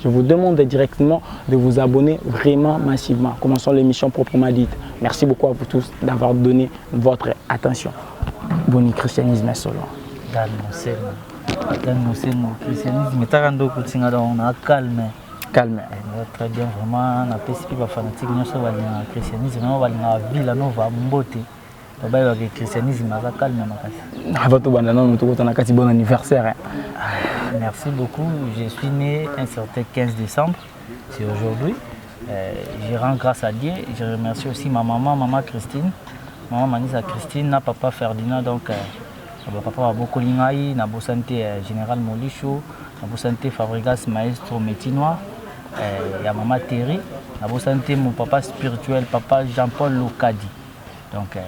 Je vous demande directement de vous abonner vraiment massivement. Commençons l'émission proprement dite. Merci beaucoup à vous tous d'avoir donné votre attention. Boni christianisme solo. Dan Mosemo. Dan Mosemo. Christianisme etaka ndoko tinga donc na calme. Calme. Eh, très bien vraiment na pesi pe ba fanatique nyoso ba linga christianisme na ba linga villa no va mbote. Baba yo ke christianisme aza calme makasi. Avant to banda nanu to kotana kati bon anniversaire. Ah, merci beaucoup. Je suis né un certain 15 décembre. C'est aujourd'hui. Euh, je rends grâce à Dieu. Je remercie aussi ma maman, maman Christine. Maman Manisa Christine, na papa Ferdinand donc euh, bapapa babokoli ngai nabosani te eh, général molisho nabosani te fabrigas maestro metinoir eh, ya mama terry nabosani te mon papa spirituel papa jean paul lokadi donc euh,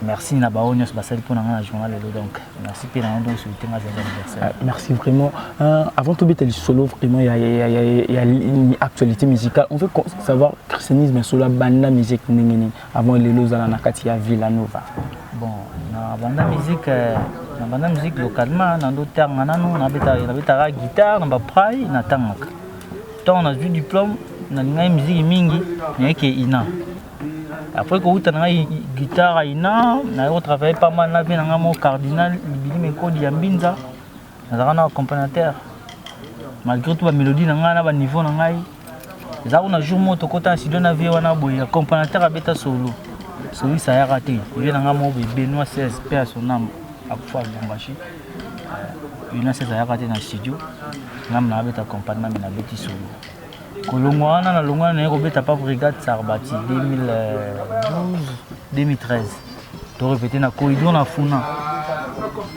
merci na baoyo nyonso basali mpo na ngai na journal lelo donc merci mpe na yo donc souhaite ngai joyeux anniversaire ah, merci vraiment euh, avant tobeta lisolo vraiment ya, ya, ya, ya, actualité musicale on veut savoir christianisme solo abanda musique ndenge nini avant lelo ozala na kati ya villanova bon na banda musique euh, na banda musique localement na ndotanga nano nabetaka guitare na baprai natangaka ntango nazwi diplôme nalingaki miziki mingi nayeke ina Après kowuta na ngai guitare ina naye kotravaille pas mal na vie na ngai moko cardinal libili mekodi ya mbinza nazalaka na accompagnateur malgré tout bamélodie na ngai na baniveau na ngai eza kuna jour moko tokota na studio na vie wana boye accompagnateur abeta solo soliste ayaka te vie na ngai moko boye benoit 16 mpe ya sonama akufa lubumbashi benoit 16 ayaka te na studio ngambo na abeta accompagnement me nabeti solo Kolongwa wana na longwa na kobeta pa brigade Sarbati 2012 2013 to repete na Koido na Funa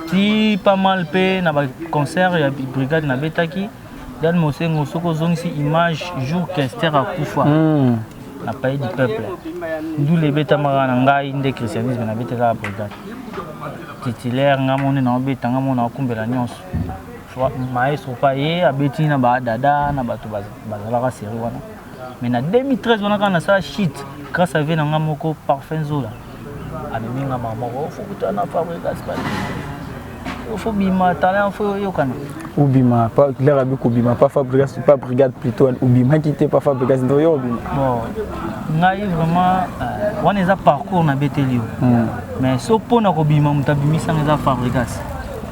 ti pas mal pe na ba concert ya brigade na betaki Dan Mosengo soko zongisi image jour Kester akufa hmm. na pays du peuple ndule ebetamaka na ngai nde christianisme nabetaka brigade titulaire ngai moni na obeta ngai mona akumbela nyonso maestro pa ye abeti na ba dada na bato bazalaka serie wana mais na 2013 wana kaka nasala shit grâce à vie na nga moko parfum zola amemi nga mama moko ofo kuta na fabrique gaspar ofo bima talent fo oyokana obima pa claire abi kobima pa fabrigas pa brigade plutôt obimaki te pa fabrigas ndo yo obima bon ngai vraiment euh, wana eza parcours na beteli yo hmm. mais so mpo na kobima moto abimisanga eza fabrigas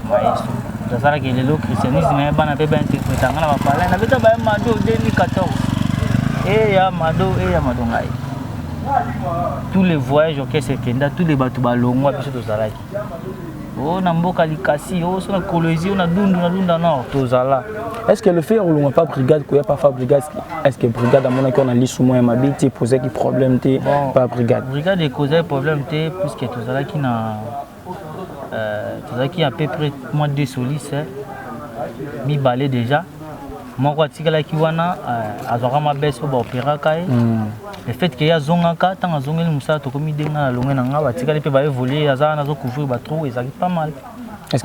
maestro tozalaki lelo christianisme ya bana mpe bainterpreta nga na bapalai na beta baye mado 2014 eya mado eya mado ngai tous les voyages orchestre ekenda tous les bato balongwa biso tozalaki o oh, na mboka likasi o oh, so na kolezi o oh, na dundu na lunda nord tozala est ce que le fait ya kolongwa pa brigade koya pa fa brigade est ce que brigade amonaki ona lisu mwa ya mabe te epozaki problème te pa brigade brigade ekozaki problème te puisque tozalaki na Euh, tozalaki à peu près mwa deux solis eh, mibale déjà moko atikalaki wana euh, azwaka mabese oyo baoperaka ye mm. le fait ke ye azongaka ntango azongeli mosala tokomi de nga na longue na nga batikali mpe baevolue aza wana azocouvrir batrou ezalaki pas mal Est-ce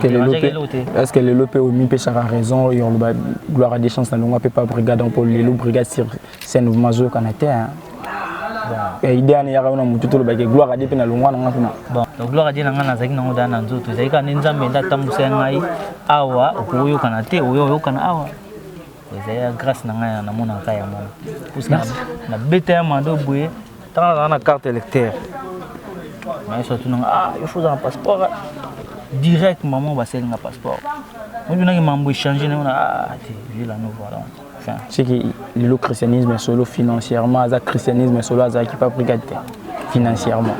que le Lopé Omi Péchara a raison et on va gloire à des chances à l'on peut pas brigade pour les loups brigade Sen vous mazo kana te hein. Ya idée ani yaka na mutu tolo bake gloire ade pe na longwa na nga kuna. Bon, donc gloire ade na nga na zaki na ngoda na nzoto. Zaki ka ne nzambe nda tambusa ngai awa okoyo kana te oyo oyo kana awa. Ezali ya grâce na ngai na mona ngai ya mona. Parce que na beta ya mando boye tanga na carte électeur. Mais surtout na ah, il faut un passeport. Direct maman basel na passeport. Moi je n'ai pas mambo échanger na ah, te, je la nous voilà. Enfin, ce qui le christianisme est solo financièrement, aza christianisme solo aza qui pas brigade financièrement.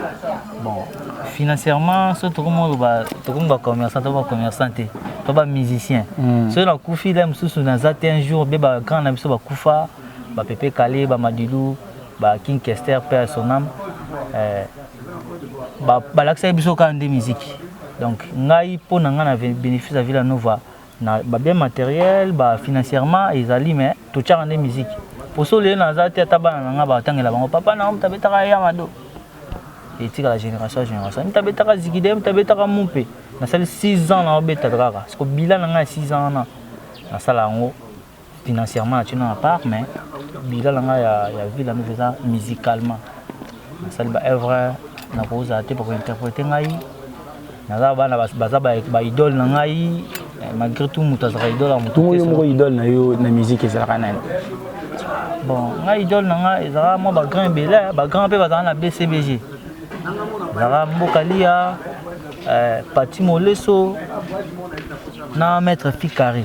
Bon, financièrement so tokomo loba tokomo ba commerçant to ba commerçant te, to ba musicien. Mm. So na kufi là mususu na za un jour be ba grand na biso ba kufa, ba Pepe Kale, ba Madilu, ba King Kester père son âme. Euh, balakisaki biso kaka nde miziki donc ngai mpo na ngai na bénéfice ya villa nova na ba bien materiel ba financièrement ezali mais totiaka nde miziki mpo so lelo naza te ata bana na ngai batangela bango papa na yango moto abetaka ya mado etikala génération génération moto abetaka zikide moto abetaka mupe nasali 6 ans na obeta kaka siko bila na ngai ya 6 ans wana nasala yango financièrement na tino na part mais bilan na nga ya, ya vie na mpe eza musicalement nasali ba œuvre nakozala te bako interprete ngai naza bana baza ba idole na ngai eh, malgré tout moto azalaka idole ya moto yo moko idole na yo na musique ezalaka nani bon ngai idole na ngai ezalaka mwa ba grand ebele ba grand mpe bazala na bcbg ezalaka mboka liya eh, pati moleso na maître fikari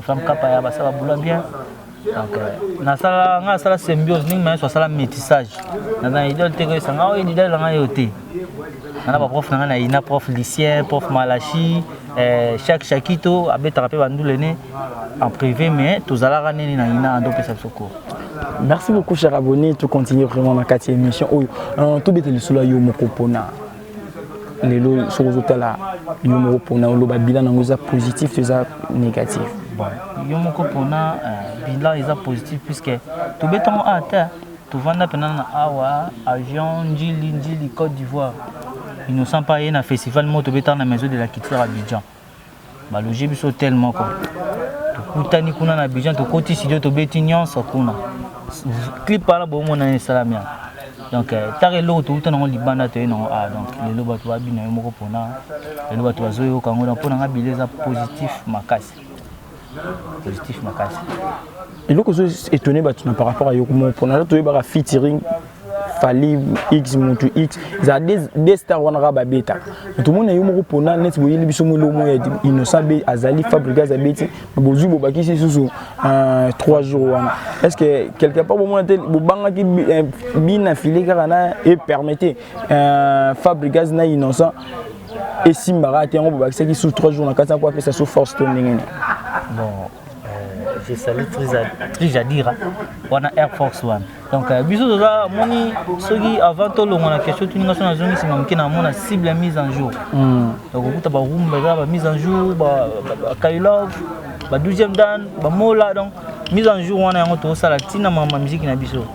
Frank Kapaya basala bula bien donc euh, nasala nga asala symbiose ndenge mayeso asala métissage naza na idole te koyesa nga oyo idole na ngai yo te nga na baprof na ngai na ina prof lucien prof malachi euh, chaque chakito abetaka mpe bandule ne en privé mais tozalaka nini na ina ando opesa biso cours merci beaucoup cher abonné to continue vraiment na kati ya émission oyo euh, tobeta lisolo ya yo moko mpona lelo soki ozotala yo moko mpona oloba bilan yango eza positif to eza négatif bon yo moko mpona euh, bilan eza positif puisque tobetango awa te tovanda mpena na awa avion njili njili côte d'ivoire innocent mpa ye na festival moko tobetanga na maison de la culture abidjan ba loger biso hotel moko tokutani kuna na Abidjan tokoti studio tobeti nyonso kuna clip wana bomona esalami yango donc euh, tara eloko touta nango libanda toye nango a ah, donc lelo bato babina yo moko mpona lelo bato bazoyoka yango mpo na nga bile eza positif makasi positif makasi eloko ezo étonne bato na par rapport ya yoko moko mpona na toyebaka featuring fali x mutu x eza de star wana kaka babetaka tomona yo moko mpona neti boyeli biso molo moko ya innocent be azali fabrigas abeti bozwi bobakisi lisusu 3 euh, jours wana est ce que quelque part bomona te bobangaki euh, bina file kaka na epermete euh, fabrigas na innocent esimbaka te yango bobakisaki sous 3 jours na kati yango apesa sous force to ndenge nini bon euh, je salue trijadira wana air force one donc euh, biso toza moni soki avant tolongwa na question tuninga so nazongi nsima moke na mona cible ya mise en jour hmm. donc okuta barumba eza ba mise en jour bakailov ba 12e dan bamola donc mise en jour wana yango tokosala ntina mama miziki na biso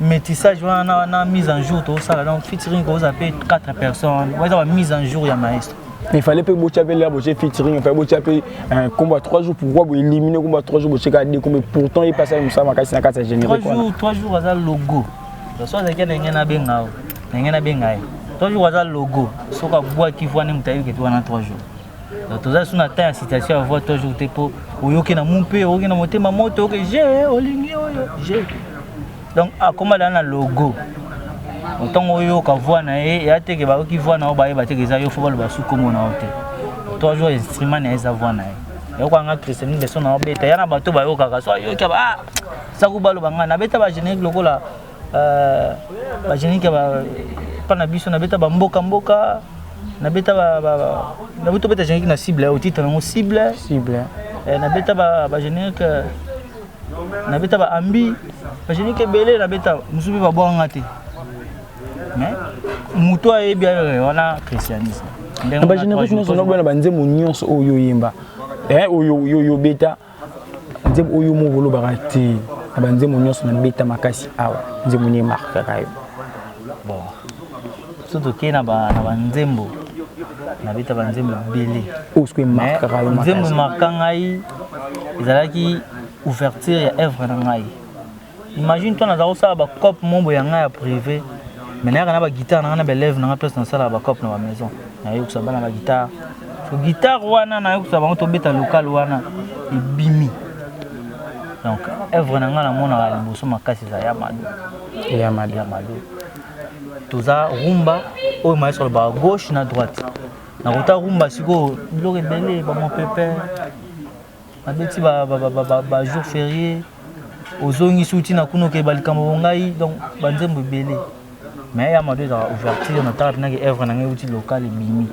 metissage wana na, na mise en jour tosala donc featuring koza mpe 4 personnes eza ba mise en jour ya maestro il fallait mpe botya mpe lea botye featuring il fallait botya mpe nkombo ya 3 jours pourquoi boélimine nkombo ya 3 jours botye kaka deko mais pourtant ye pasali mosala makasi na kati ya générique wana 3 jours aza logo so azalaki na ngai nabenga yo na ngai nabenga ye 3 jours aza logo soki abwaki vwani moto ayoki te wana 3 jours Donc toza lisusu na temps ya situation ya voix toujours te mpo oyoki na mu mpe oyoki na motema moto oyoki je olingi oyo je donc akoma laa na logo ntango oyoka voix na ye ya teke bayoki voix na yo bayeba teke eza yo fo baloba su komona yo te trois jours instrument na ye eza voix na ye yokanga christine leso na obeta ya na bato bayokaka so ayoki aba ah, saku baloba ngai nabeta bagénérique lokola Euh, ba génique ba pa na biso nabeta ba mboka mboka nabeta ba ba nabi tobeta génique na cible au titre nango cible cible eh, nabeta ba ba génique nabeta ba ambi ba génique ebele nabeta mosusu mpe babwanga te mais moto ayebi eh, wana christianisme na ba générique nyonso nabwena banzembo nyonso oyo oyemba eh, oyo oyobeta Nzembo oyo moko olobaka te na ba nzembo nyonso na beta makasi awa nzembo nini emarkaka yo bon so tokei na ba na ba nzembo na beta ba nzembo ebele oyo soki emarkaka yo makasi nzembo emarka ngai ezalaki ouverture ya œuvre na ngai imagine toi naza kosala ba cop mombo ya ngai ya privé mais nayaka na ba guitare na ngai na ba élève na ngai place nasalaka ba cop na ba maison nayokusa bana ba guitare so guitare wana nayokusa bango tobeta local wana ebimi donc œuvre na ngai namonaka liboso makasi eza ya mado ya mado ya mado toza rumba oyo maye solobaka gauche na droite nakota rumba sikoyo biloko ebele bamopepe abeti ba, ba, ba, ba, ba, ba jour ferie ozongisi uti na kuna okeba likambo bo ngai donc banzembo ebele mais ya mado ezalaka ouverture natala mpenaki evre na ngai uti local ebimi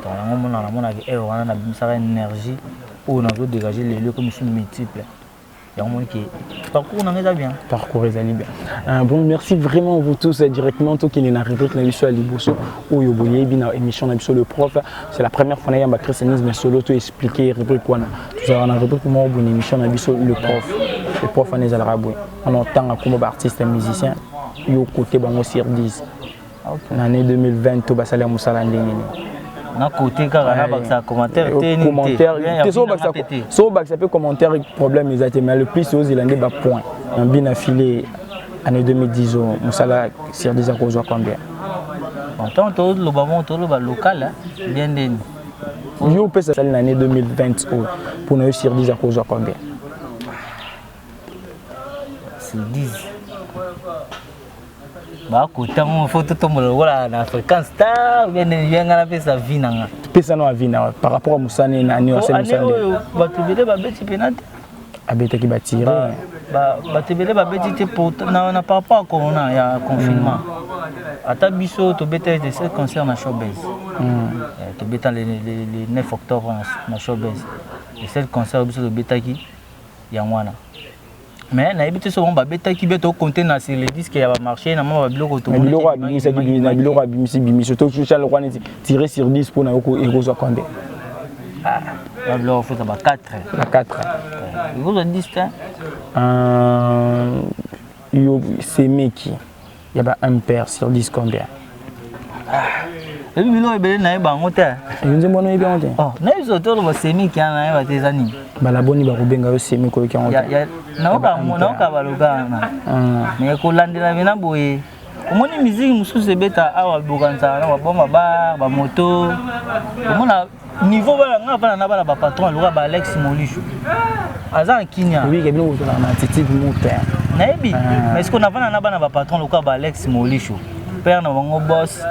donc yango mona namonaki evre wana nabimisaka énergie oyo nazo dégage lelo ekomi su multiple yango ke parcours na ngai eza bien parcours ezali bien uh, bon merci vraiment vous tous euh, directement tokende na rubrique na biso ya liboso oyo boyebi na émission na biso le prof c'est la première fois nayamba christianisme solo to expliquer rubrique wana tozalaka na rubrique moko boye na émission na biso le prof le prof wana ezalaka boye wana otanga nkombo baartiste ya musicien yo kote bango sur 10 na année 2020 to basali ya mosala ndenge nini na kote kaka nabakisa commentaire te te so obakisa mpe commentaire problème eza te mais le plus ozela nde bapoint na mbi na filet année 2010 oyo mosala sur 10 akozwa combien ntango toloba mo toloba lokala bien ndeni Yo pesa sali na année 2020 oyo pona yo sur 10 akozwa combien? Sur 10 bakota ngo fo totombola lokola na fréquence ta ou bien ngai napesa vie na nga pesa no avis na par rapport ya mosani na année oyo asali mosani oyo bato ebele babeti penate abetaki ba tire bato ebele babeti te na par rapport ya corona ya confinement mm. ata biso tobeta ete ce concert na showbase mm. eh, tobeta le 9 octobre na showbase le seul concert biso tobetaki yango wana mais nayebi te soki babetaki be tokonte na sur le disque ya bamarché na mama babiloko tobiloko abimisaki bimisi bimiso tosocia lokwa neti Tiré sur 10 pona yoko ekozwa combien Ah, là là on fait ça ba 4. Na 4. Vous avez 10 hein Euh, yo semeki ya ba impère sur 10 combien Et puis là ebele na ye bango te. yo nzembo wana oyebi yango te Oh, na biso to ba semi ki na ye ba teza nini? balaboni bakobenga yo semeki oyoki yango Ya te ya na oka mo na oka ba lugana. Ah. Mais ko landela bina boye. omoni miziki mosusu ebeta awa bokanzaka na baboma bar bamoto omona niveau bana nga bana na bana ba patron loka ba Alex Molisho aza na kinya oui ke bino kozala na attitude mote nayebi ah. mais ce qu'on a bana na bana ba patron loka ba Alex Molisho père na bango boss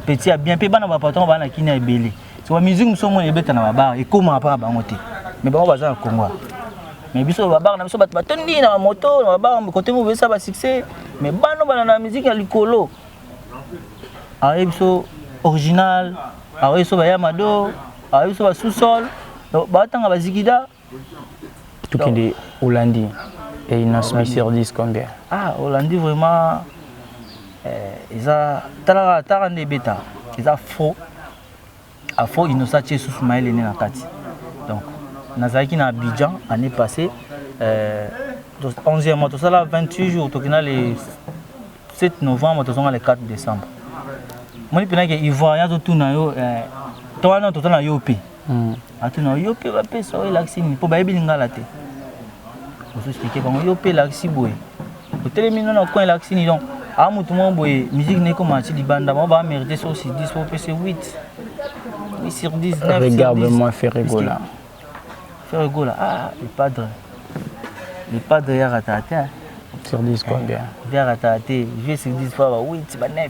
petit ya bien mpe bana ba patron bana na kinya ebele so ba musique mosusu omona ebeta na babare ekomaka mpo na bango te mais bango baza na kongo mais biso babare na biso bato batondi na bamoto na babare kote mo besa basuccès mais bano bana na musique ya likolo aye biso original aye biso bayamado aye biso basous-sol batanga bazikida tokende olandi et il n'en sur 10 combien ah olandi vraiment eh, eza talaka tala nde ebeta eza faux afo inosa tie susu mayele nde na kati donc nazalaki na abidjan année passée euh, 11e mois tosala 28 jours tokenda le 7 novembre tozonga le 4 décembre moni mpenake ivoirien azotuna yo eh, to wana toza na yo mpe Hmm. atuna yo mpe bapesa yo elakisi nini mpo bayebi lingala te ozoexplike bango yo mpe elakisi boye otelemi no na coin elakisi nini donc a motu moko boye musique na ekoma ti libanda bango bamérite so sur 10 po opesa 8 8 sur 10 regarde moi ferregola ferregola ah le padre le padre yaka tata sur 10 combien yaka tata je sur 10 fois ba 8 ba 9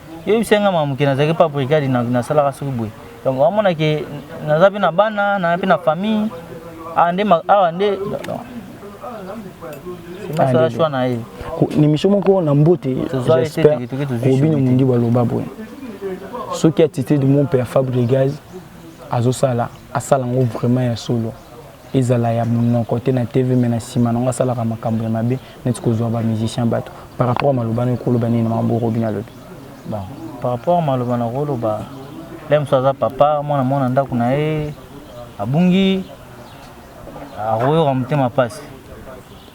yo yebisa nga mama moke nazalaki pa brigade nasalaka soki boye donc wamona ke naza mpe na bana naza mpe na famille awa nde awa nde masala shwa na ye nimisio moko na mbote obino mundi baloba boye soki attitude mon père fabrigaz azosala asala yango vraiment ya solo ezala ya monoko te na tv me na nsima nango asalaka makambo ya mabe neti kozwa ba musicien bato par rapport ya maloba nini koloba nini na makambo robi na lobi bon par rapport maloba na koloba le mosu aza papa mwana mwana ndako na ye abungi akoyoka motema mpasi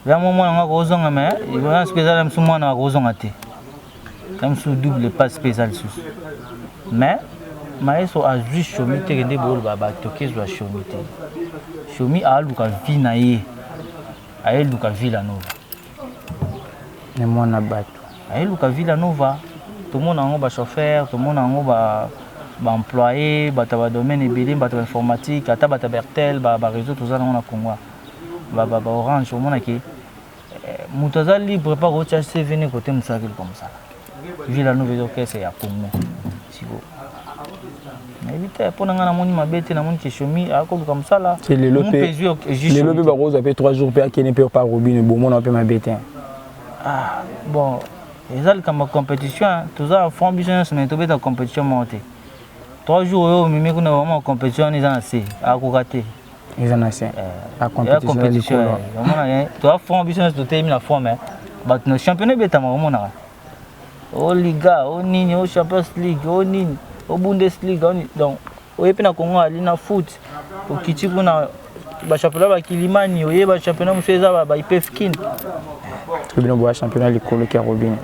ya mwa mwana yango akozonga me ya soki eza le mosu mwana akozonga te ya mosusu double mpasi mpe eza lisusu mais maestro azwi shomi te kende boloba batoki ezwa shomi te shomi aluka vi na ye Aye luka Villa Nova. Ne mwana batu. Aye luka Villa Nova. Tomona yango ba chauffeurs, tomona yango ba ba employés, bato ya ba domaine ebele, bato ya informatique, ata bato ya Bertel, ba, ba réseau toza nango na Congo. Ba, ba, ba Orange, omona ke eh, moto aza libre pa kotia CV ne kote mosalaki lipa mosala. Villa Nova eza orchestre ya Congo. Siko. nayebi te mpo na ngai namoni mabe te namoni keshomi akoluka mosala lelo mpe bakozwa mpe 3 jours mpe akende mpe pa robine bomona mpe mabe te ah, bon eza likambo ya compétition toza franc biso nyonso mai tobeta compétition moko te 3 jours oyo omemi kuna vraiment compétition wana eza na se akoka te eza na se ba competition likolo omona ye to afond biso nyonso totelemi na fond mais bato na championnat ebetama omonaka o liga o nini o champions league o nini o bundesliga o nini donc oye mpe na congo ali na foot okiti kuna bachampionnat bakilimani oye bachampionnat mosusu eza baipefkin bino boya championnat likolo kerobin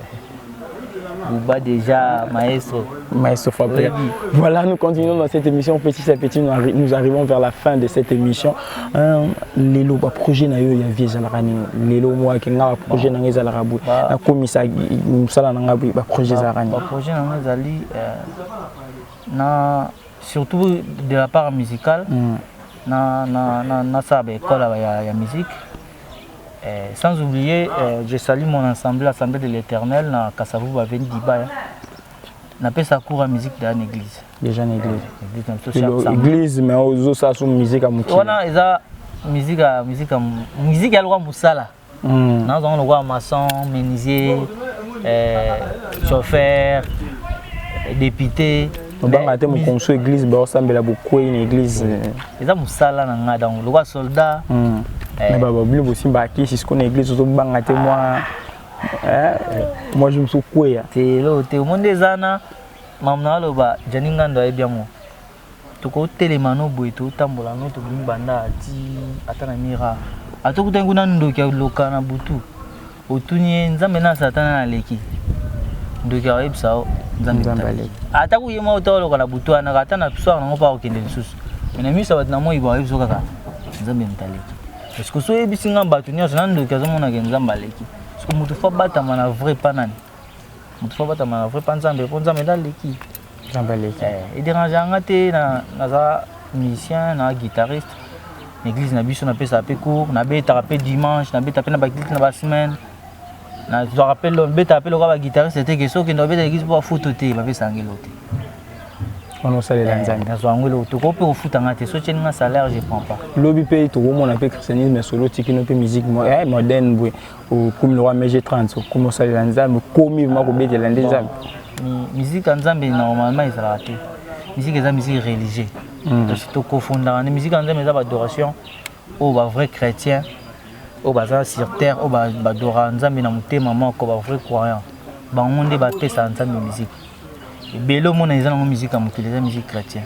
Bouba déjà, maestro. Maestro Fabien. Voilà, nous continuons dans cette émission. Petit à petit, nous, arri nous arrivons vers la fin de cette émission. Euh, lelo, ba projet na yo ya vie ezalaka nini? Lelo moi ke nga ba projet na nga ezalaka boye. Na komisa musala na nga boye ba projet ezalaka nini? Ba projet na nga ezali euh, na surtout de la part musicale. Mm. Na na na na ça ba école ya, ya musique. Eh, sans oublier, eh, je salue mon assemblée, l'assemblée de l'éternel, na Kasavubu Avenue d'Ibaya. Na pesa cours à musique dans l'église. Déjà une église. Eh, église, na biso chaque Elo- samedi. église mais ozo sala so musique ya mokili Wana eza musique ya musique ya musique ya lokola musala. Mm. Na zongo lokola maçon, menuisier, eh, chauffeur, eh, député. obanga te mokongo so église baosambela bokwei na église eza mosala na ngai donc lokola soldat hmm. eh. na bababino bosimbaka kisi siko na église ozobanga te mwa eh, mwa je mosu kweya te elo te omoni nde eza na mamu na aloba jani ngando ayebi yango tokotelema no boye totambola no tobimi banda ti ata na mira atokutani kuna ndoki aloka na butu otuni ye nzambe na satana na leki ndoki akoyebisa yo nzambe ata kuye moko to oloka na butu wana ata na soir nango mpo akokende lisusu me na miso ya bato na moi bakoyebisa yo kaka nzambe moto aleki parceke so oyebisi nga bato nyonso na ndoki azomonaka nzambe aleki parceke moto fo abatama na vrai mpa nani moto fo abatama na vrai pa nzambe po nzambe nde aleki nzambe aleki eh, ederange yanga te naza musicien na guitariste na église na biso napesaka mpe cour nabetaka mpe dimanche nabeta mpe na baeglise na basemaine nazwaka mpe nabetaka mpe lokola baguitariste te ke soki okende obeta église mpo bafutu te bapesaka nge lo te wana osalela eh, nzambe nazwa yango eloko tokoki mpe kofuta ngai te soki eninga salaire je prends pas lobi mpe tokomona mpe christianisme solo tikino mpe musique eh, moderne boye okomi lokola mege 30 okomi osalela nzambe okomi vrima kobetela nde nzambe miziki ya nzambe normalement ezalaka te miziki eza miziki religieux hmm. kasi tokofundaka nde miziki ya nzambe eza baadoration oyo bavrai chrétien oyo baza sur terre oyo badora nzambe na motema moko bavrai croyant bango nde bapesaka nzambe miziki ebele omona eza nango miziki ya mokili eza miziki chrétien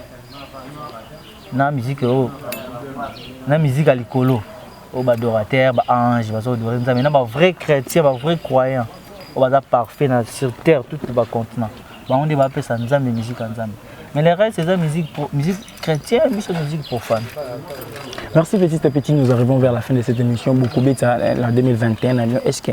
na miziki oyo na miziki ya likolo oyo ba adorateur ba ange bazo adore nzambe na ba vrai chrétien ba vrai croyant oyo baza parfait na sur terre toute ba continent bango nde bapesa nzambe musique ya nzambe mais le reste eza musique musique chrétienne biso musique profane merci petit à petit nous arrivons vers la fin de cette émission bokobeta euh, na 2021 na bino est ce que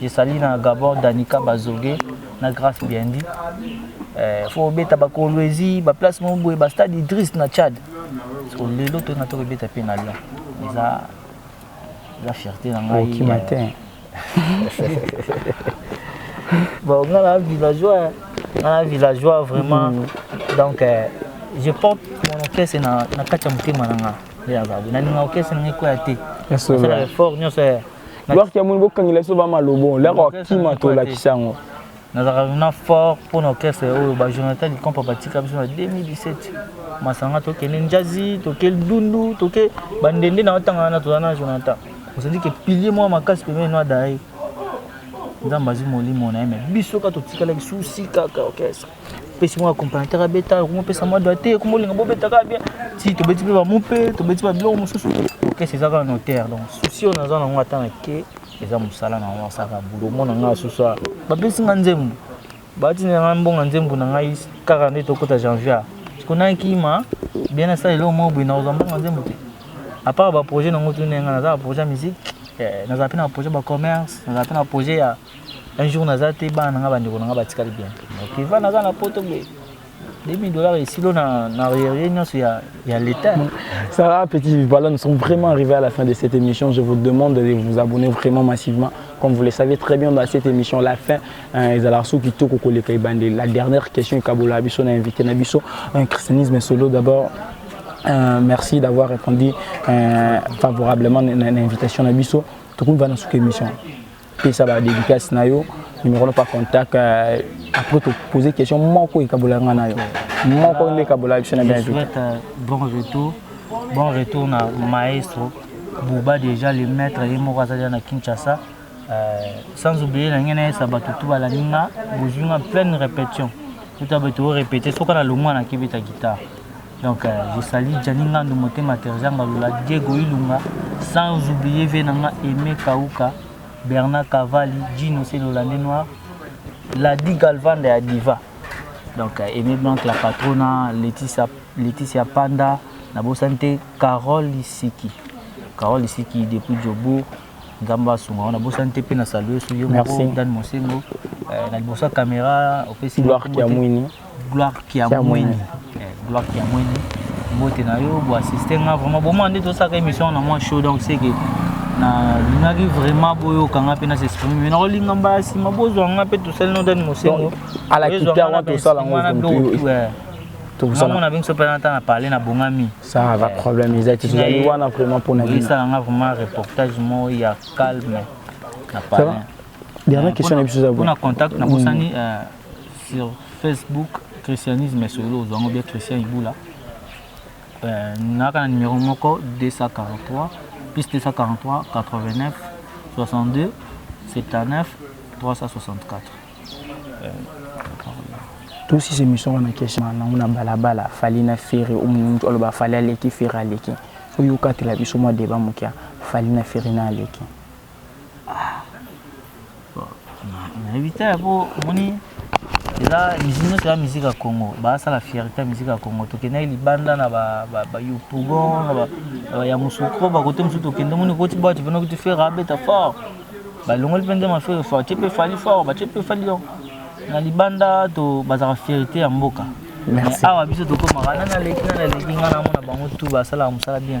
Jesali na Gabor Danica Bazoge na Grace Biendi eh, fo obeta bakolwezi baplace moko boye bastade idris na tchad so lelo tona tokobeta mpe na lion eza eza fierté na ngaikima te bon nga na villageois nga na villageois vraiment mm. donc eh, je porte mon orchestre na kati ya motema na nga nde naza boye nalinga orchestre na nga ekoya te asala effort nyonso eh. Gloire ya moni bokangela biso ba malobo laka wakima tolakisa yango nazalaka vraiment fort mpo na orchestre oyo bajonathan likompa batika biso na 2017 masanga tokende njazi toke dundu toke bandende na otanga wana toza na jonathan ozali ke pilier mwa makasi pembeni na daye nzambe azwi molimo na ye me biso kaka totikalaki susi kaka orchestre pesi mwa complanter abeta okomi opesa mwa dwa te okomi olinga bobetaka bien ti tobeti mpe bamupe tobeti babiloko mosusu okese eza kaka notaire donc souci oyo naza nango ata na ke eza mosala na yango asaka bulo omona ngai susu bapesi ngai nzembo batinela ngai mbongo ya nzembo na ngai kaka nde tokota janvier siko nakima bien asala eloko moko boye nakozwa mbongo ya nzembo te apart baprojet nango tuna ngai naza baprojet ya musique eh, naza mpe na projet bacommerce naza mpe na projet ya un jour naza te bana na nga bandeko na nga batikali bien ok va naza na poto boye 2000 dollars esilo na, na arriéré nyonso ya, ya l'état sarah petit voilà nous sommes vraiment arrivés à la fin de cette émission je vous demande de vous abonner vraiment massivement comme vous le savez très bien dans cette émission la fin hein, ezalaka soki kitoko koleka ebandeli la dernière question ekabola biso na invité na biso un hein, christianisme solo d'abord euh, merci d'avoir répondu euh, favorablement à l'invitation de Bisso. Tout le monde va dans cette émission. pesa ba dédicace na yo numéro pas contact euh, après te poser question moko ekabola nga na yo moko nde ekabola biso na bien vite euh, bon retour bon retour na maestro Bouba déjà le maître ye moko aza déjà na Kinshasa euh, sans oublier na ngene sa bato tout bala ninga bozunga pleine répétition tout abeto répéter soka na lomwa na kibeta guitare Donc, euh, je salue Gianni Ngandu, Motema Teresa Ngalula, Diego Ilunga, sans oublier Venanga Aimé Kauka, Bernard Cavalli, Gino c'est l'Hollandais noir, Ladi Galvanda ya Diva. Donc, euh, Aimé Blanc, la patrona, Laetitia, Laetitia Panda, Nabosante, Carole Isiki. Carole Isiki depuis Djobourg, Nzambe asunga wana bosani te pe na saluer su yo moko Dan Mosengo eh, na liboso ya camera opesi gloire kia mwini gloire kia mwini eh, gloire kia mwini mbote na yo bo assister nga vraiment bomona nde tosaka émission na mwa show donc c'est que nalingaki vraiment boyoka nga mpe nasesprime me nakolinga mbala nsima bozwa nga mpe tosali no dani mosengo alakita wana tosala ngo namona biso mpe na ntango na parle na bongami ça va problème eza te tozali wana vraiment mpo na binosala nga vraiment reportage moko ya calme na palin dernière euh, question na biso ezapona contact nabosani mm. euh, sur facebook christianisme solo ozwa yango bia christian ibula euh, naka na numero moko 243 plus 243 89 62 79 364 tosi se mission wana question na nango na balabala fali na fere omuntu aloba fali aleki fere aleki oyo okatela biso mwa deba moke fali na fere na aleki ah. nayebi te po omoni eza musique nyonso ya musique ya congo basala fierté ya musique ya congo tokendaki libanda na bayutubo ya mosokro bakote mosusu tokende moni koti batu pena kuti fere abeta fort Balongoli penza mafiori fort tie pe fali fort batie pe fali yo na libanda to bazaka fierite ya mboka mais awa biso tokomaka nani aleki nani aleki nga na mona bango tout basalaka mosala bien